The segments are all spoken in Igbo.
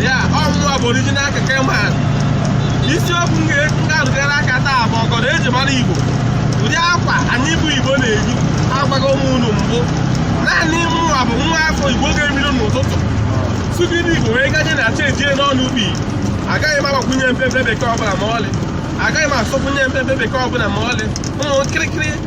ya ọ mụwa bụ original keke man isiokwu m ga-arụgara aka taa bụ ọgọdọ eji mara igbo ụdị akwa anyị bụ igbo na-eyi agwaghị m unu mbụ naanị mụnwa bụ nwa afọ igbo ga-ebido n'ụtụtụ sụgide igbo wee gaje na chi ejie n'ọnụ ubi agaghị m agbakwunye mpepe bekee ọbụla ma ọlị agaghị m asụkwunye mpepe bekee ọbụla ma ọlị ụmụ nkịrịkịrị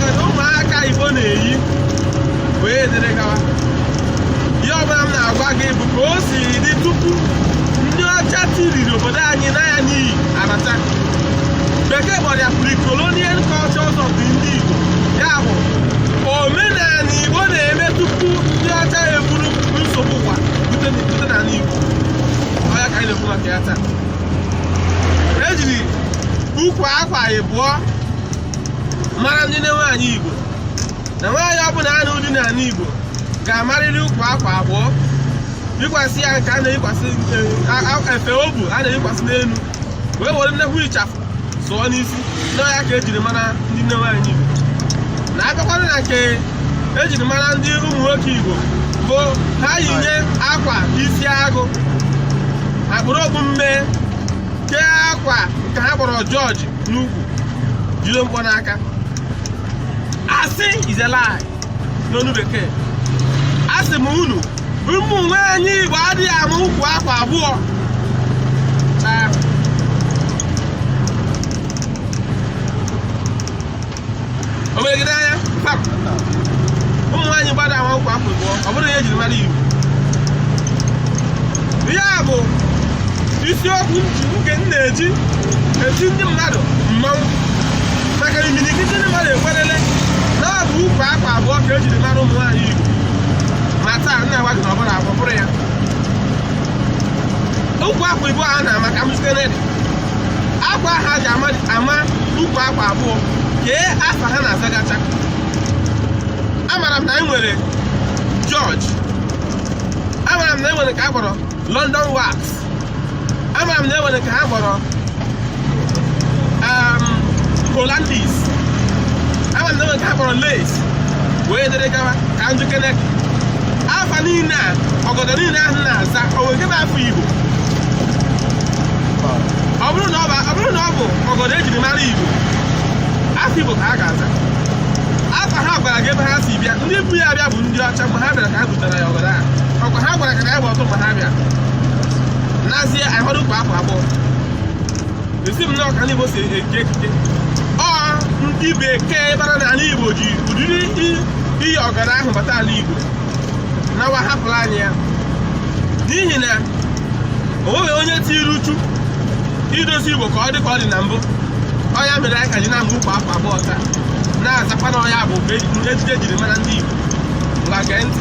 kedu ụmụaka igbo na-eyi wee dịrị gawa ihe ọbụla m na-agwa gị bụ ka o si dị tupu ndị ọcha tiriri obodo anyị n'anya n'iyi abata bekee kpọrọ ya pre-colonial cultures of the ndị igbo ya bụ omenala igbo na-eme tupu ndị ọcha eburu nsogbu ụwa bute bute n'ala igbo ọ ya ka anyị na-ekwu maka ya taa ejiri ukwu akwa ịbụọ mara ndị nne nwaanyị igbo na nwaanyị ọbụla na-anụ di n'ala igbo ga-amarịrị ukwu akwa abụọ yikwasị ya nke a na-eyikwasị efe obu a na-eyikwasị n'elu wee were nnekwu ịchafụ sụọ n'isi na ọ ya ka ejiri mara ndị nne nwaanyị igbo na abịakwana na nke ejiri mara ndị ụmụ nwoke igbo bụ ha yinye akwa isi agụ ha kpuru okpu mmee kee akwa nke ha kpọrọ jọji n'ukwu jide mkpọ n'aka asị is a lie n'olu bekee asị m unu ụmụ nwaanyị igbo adịghị ama ukwu akwa abụọ na o mee gị n'anya pap ụmụ nwaanyị igbo adị ama ukwu akwa abụọ ọ bụrọ ya e jiri mara igbo ihe a bụ isiokwu nji nke m na-eji eti ndị mmadụ mmanwụ maka imirikiti ndị mmadụ ekwerele na ọ bụ ukwu akwa abụọ ka e jiri mara ụmụ nwaanyị igbo ma taa m na-agwa gị na ọ bụrọ ya ọ bụrọ ya ukwu akwa ịbụọ a na-ama ka m site n'ụdị akwa ha ji ama ama ukwu akwa abụọ kee afa ha na-azagacha amara m na enwere George amara m na enwere nke a kpọrọ London wax amara m na enwere nke ha kpọrọ um, Hollandis amara m na enwere nke ha kpọrọ lace wee dịrị gawa ka m jụkene afa niile a ọgọdọ niile ahụ na-aza o nwere nke bụ afa Igbo ọ bụrụ na ọ bụ ọ bụrụ na ọ bụ ọgọdọ ejiri mara igbo afa igbo ka ha ga-aza afa ha gwara gị ebe ha si bịa ndị bu ya bịa bụ ndị ọcha mgbe ha bịara ka ha butere ya ọgọdọ ahụ ọkwa ha gwara ka ka ya bụ ọtụ mgbe ha bịara nazie ahụrụ ukwu akwa abụọ asị m na ọ ka ndị igbo si eke ekike ọ ndị bekee bara n'ala igbo ji ụdịrị iyi ọgọdọ ahụ bata ala igbo nawa hapụrụ anyị ya n'ihi na o nweghị onye tiri uchu idozi Igbo ka ọ dị ka ọ dị na mbụ ọ ya mere anyị ka ji na-amụ okpu agụ abụọ taa na-azakwa na ọ ya bụ ejiji ejiri mara ndị Igbo ngwa gee ntị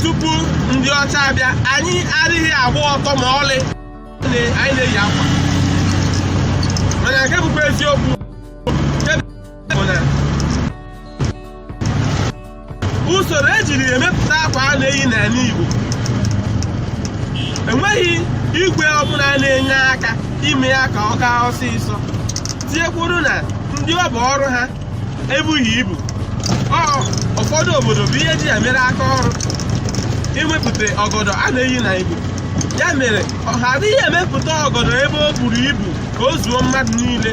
tupu ndị ọcha abịa anyị adịghị agba ọtọ ma ọlị anyị na-eyi akwa mana nke bụkwa eziokwu usoro ejiri emepụta akwa a na-eyi n'ala Igbo enweghị igwe ọbụla na-enye aka ime ya ka ọ gaa ọsịsọ tinyekwuru na ndị ọ bụ ọrụ ha ebughị ibu ọ ụfọdụ obodo bụ ihe ji ya mere aka ọrụ imepụta ọgọdọ a na-eyi na Igbo ya mere ha adịghị emepụta ọgọdọ ebe o buru ibu ka o zuo mmadụ niile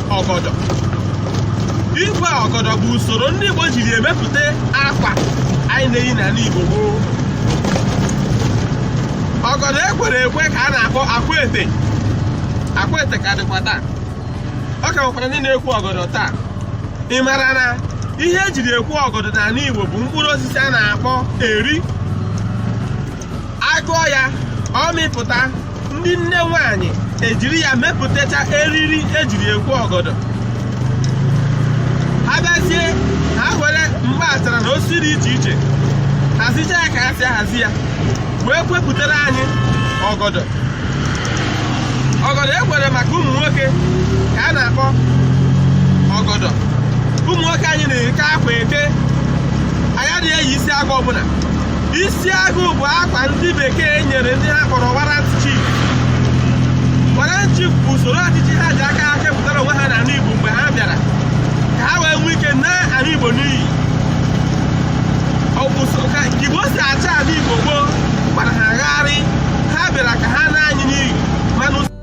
ọgọdọ ikwe ọgọdọ bụ usoro ndị Igbo jiri emepụta akwa anyị na-eyi n'ala Igbo gboo ọgọdọ ekwere ekwe ka a na-akpọ akwaete akwaete ka dịkwa taa ọ ka nwekwara ndị na-ekwe ọgọdọ taa ị mara na ihe ejiri ekwe ọgọdọ n'ala Igbo bụ mkpụrụ osisi a na-akpọ eri akụọ ya ọ mịpụta ndị nne nwanyị ejiri ya mepụtacha eriri ejiri ekwe ọgọdọ ha bịazie ha were ngwa achara na osisi dị iche iche hazicha ya ka ha si ahazi ya wee kwepụtara anyị ọgọdọ ọgọdọ ekwere maka ụmụ nwoke ka a na-akpọ ọgọdọ ụmụ nwoke anyị na-eke akwa eke anyị adịghị eyi isi agụ ọbụla isi agụ bụ akwa ndị bekee nyere ndị ha kpọrọ warrant chief warrant chief bụ usoro ọchịchị ha ji aka ha kepụtara onwe ha n'ala Igbo mgbe ha bịara ka ha wee nwee ike naa ala Igbo n'iyi ọ bụ so ka ka Igbo si achị ala Igbo gboo gbara ha gharịị ha bịara ka ha naa anyị n'iyi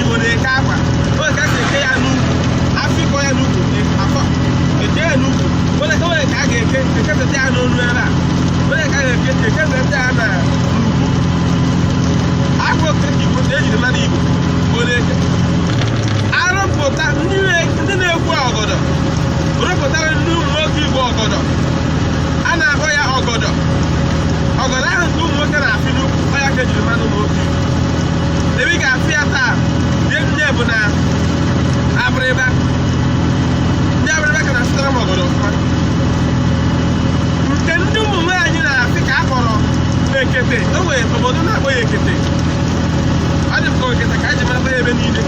Igbo na-eke akwa o nwe ka a ga-eke ya n'ukwu afịkọ ya n'ukwu afọ eke ya n'ukwu o nwe ka o nwe ka a ga-eke ekepụta ya n'olu ebe a o nwe ka a ga-eke ekepụta ya na n'ukwu akwa okike ka ejiri mara Igbo Igbo na-eke arụpụta ndị na- ndị na-ekwe ọgọdọ rụpụtara ndị ụmụ nwoke Igbo ọgọdọ a na-akpọ ya ọgọdọ ọgọdọ ahụ nke ụmụ nwoke na-afị n'ukwu ọ ya ka ejiri mara ụmụ nwoke Igbo ebe ị ga-afụ ya taa ihe nne bụ na abịrịba ndị abịrịba ka na-asụtara m ọgọdọ ọfụma nke ndị ụmụ nwaanyị na-eke ka a kpọrọ ekete o nwere obodo na-akpọ ya ekete ọ dị m ka ekete ka a ji mata ya ebe niile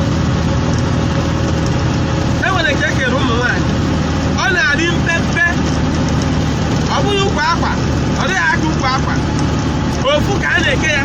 e nwere nke ekere ụmụ nwaanyị ọ na-adị mpe mpe ọ bụghị ukwu akwa ọ dịghị aka ukwu akwa ofu ka a na-eke ya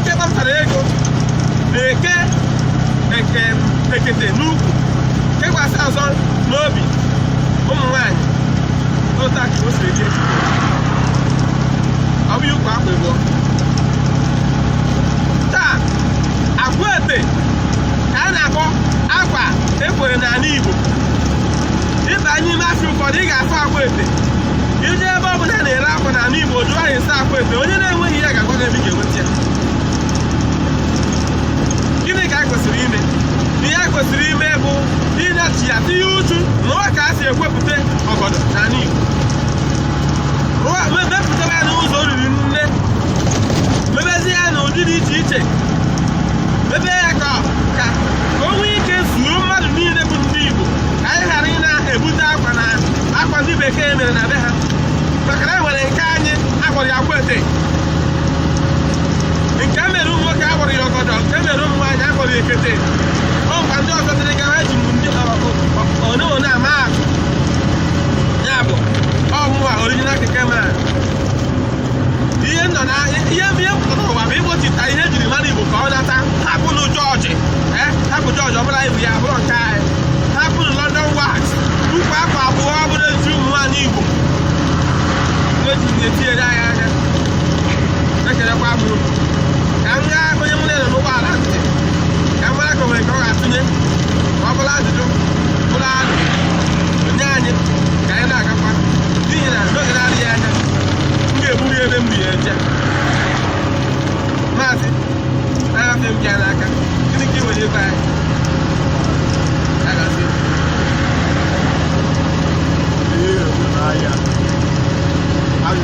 ndị kpatara ego na-eke eke ekete n'ukwu kekwasị ọzọ n'obi ụmụ nwaanyị otu a ka o siri dị ọ bụghị ukwu akwa ịbụọ taa akwete ka a na-akpọ akwa e kwere n'ala Igbo ị baa n'ime afịa ụfọdụ ị ga-afụ akwete ị jee ebe ọ bụla a na-ere akwa n'ala Igbo jụọ ya ese akwete onye na-enweghị ya ga-agwa gị ebe ị ga-enwe gịnị ka anyị kwesịrị ime ihe anyị kwesịrị ime bụ ịnachi ya tinye uchu mụọ ka a si ekwepụta ọgọdọ n'ala Igbo rụọ me- mepụtaba ya n'ụzọ oriri nne mebezie ya n'ụdị dị iche iche mebe ya ka ka ka o nwee ike zuo mmadụ niile bụ ndị Igbo ka anyị ghara ịna-ebute akwa na akwa ndị bekee mere na be ha maka na e nwere nke anyị a kpọrọ ya akwete nke e mere ụmụ nwoke a kpọrọ ya ọgọdọ nke e mere ụmụ nwaanyị a kpọrọ ya ekete ọ mba ndị ọzọ dịrị ka ha ji m ndị one one ama atụ ya bụ ọmụwa original keke ma ihe nọ na ihe ihe pụtara ụwa bụ ịkpọchita ihe e jiri mara igbo ka ọ nata hapụnụ jọọjị eh, hapụ jọọjị ọ bụla ibu ya abụrụ nke anyị hapụnụ london wax ukwu akwa abụọ ọ bụrụ ezi ụmụ nwaanyị igbo eji na-etinyere anyị anya ekelekwa m unu ka m gaa onye m na-ele n'ụgbọala ntị ka m mara ka o nwere nke ọ ga-atụnye ma ọ bụla ajụjụ bụrụ alo nye anyị ka anyị na-agakwa n'ihi na n'oge na-adịghị anya m ga-eburu ya ebe m bu ya eje maazị na-ahapụ m gị n'aka gịnị ka ị nwere ịgwa anyị Ya gazie. Ee, ahịa. Ahịa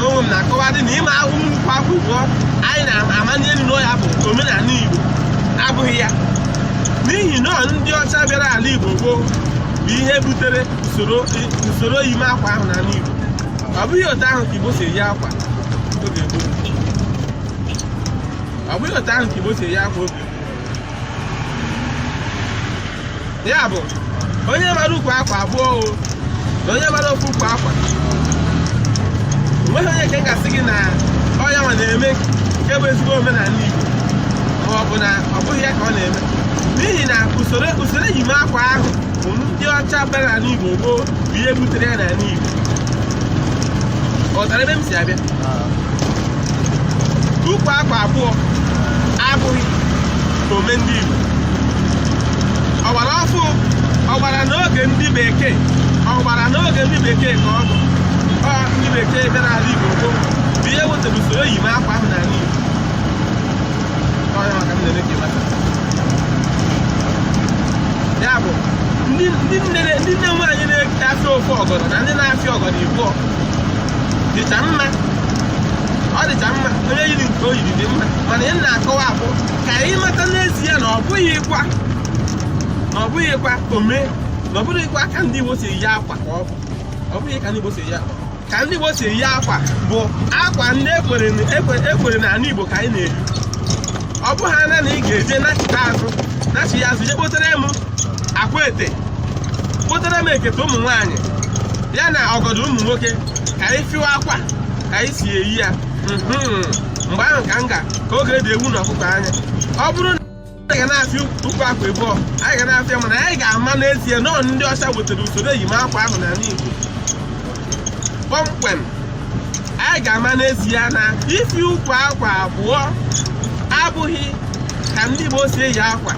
Mụ onwe m na-akọwadị na ịma ahụ ukwu akwa abụọ anyị na-amanye elu na ọ ya bụ omenala Igbo abụghị ya n'ihi na ọ ndị ọcha bịara ala Igbo gboo bụ ihe butere usoro usoro ịma akwa ahụ n'ala Igbo ọ bụghị otu ahụ ka Igbo si eyi akwa oge gboo ọ bụghị otu ahụ ka Igbo si eyi akwa oge gboo ya bụ onye mara ukwu akwa abụọ o na onye mara ofu ukwu akwa o nweghị onye nke m ga-asị gị na ọ ya nwa na-eme nke bụ ezigbo omenala Igbo ma ọ bụ na ọ bụghị ya ka ọ na-eme n'ihi na usoro usoro eyim akwa ahụ bụ ndị ọcha bịara n'ala Igbo gboo bụ ihe butere ya n'ala Igbo ị ghọtara ebe m si abịa ukwu akwa abụọ abụghị ome ndị Igbo ọ gbara ọfụụ ọ gbara n'oge ndị bekee ọ gbara n'oge ndị bekee ka ọ bụ ọ ndị bekee bịara ala Igbo gboo bụ ihe wetara usoro eyim akwa ahụ n'ala Igbo Ọ ya ka m na-eme ka ị mata. ya bụ ndị ndị nne ndị nne nwaanyị na-afịa ofu ọgọdọ na ndị na-afịa ọgọdọ ịbụọ dịcha mma ọ dịcha mma onye yiri nke o yiri dị mma mana ihe m na-akọwa bụ ka anyị mata n'ezie na ọ bụghịkwa na ọ bụghịkwa ome na ọ bụghịkwa ka ndị Igbo si eyi akwa ka ọ bụ ọ bụghị ka ndị Igbo si eyi akwa ka ndị Igbo si eyi akwa bụ akwa ndị e kwere e kwere e kwere na ala Igbo ka anyị na-eyi ọ bụ ha na anyị ga-eje nachita azụ nachi ya azụ je kpotere m Akwete kpotere m ekete ụmụ nwaanyị ya na ọgọdọ ụmụ nwoke ka anyị fịwa akwa ka anyị si eyi ya Mhm. mgbe ahụ ka m ga ka ọ ga-edo ewu na ọkụkọ anya ọ bụrụ na anyị ga na-afịa ukwu akwa ịbụọ anyị ga na-afịa mana anyị ga-ama n'ezie na ọ ndị ọcha wetara usoro eyim akwa ahụ n'ala Igbo kpọmkwem anyị ga-ama n'ezie na ifi ukwu akwa abụọ abụghị ka ndị Igbo si eyi akwa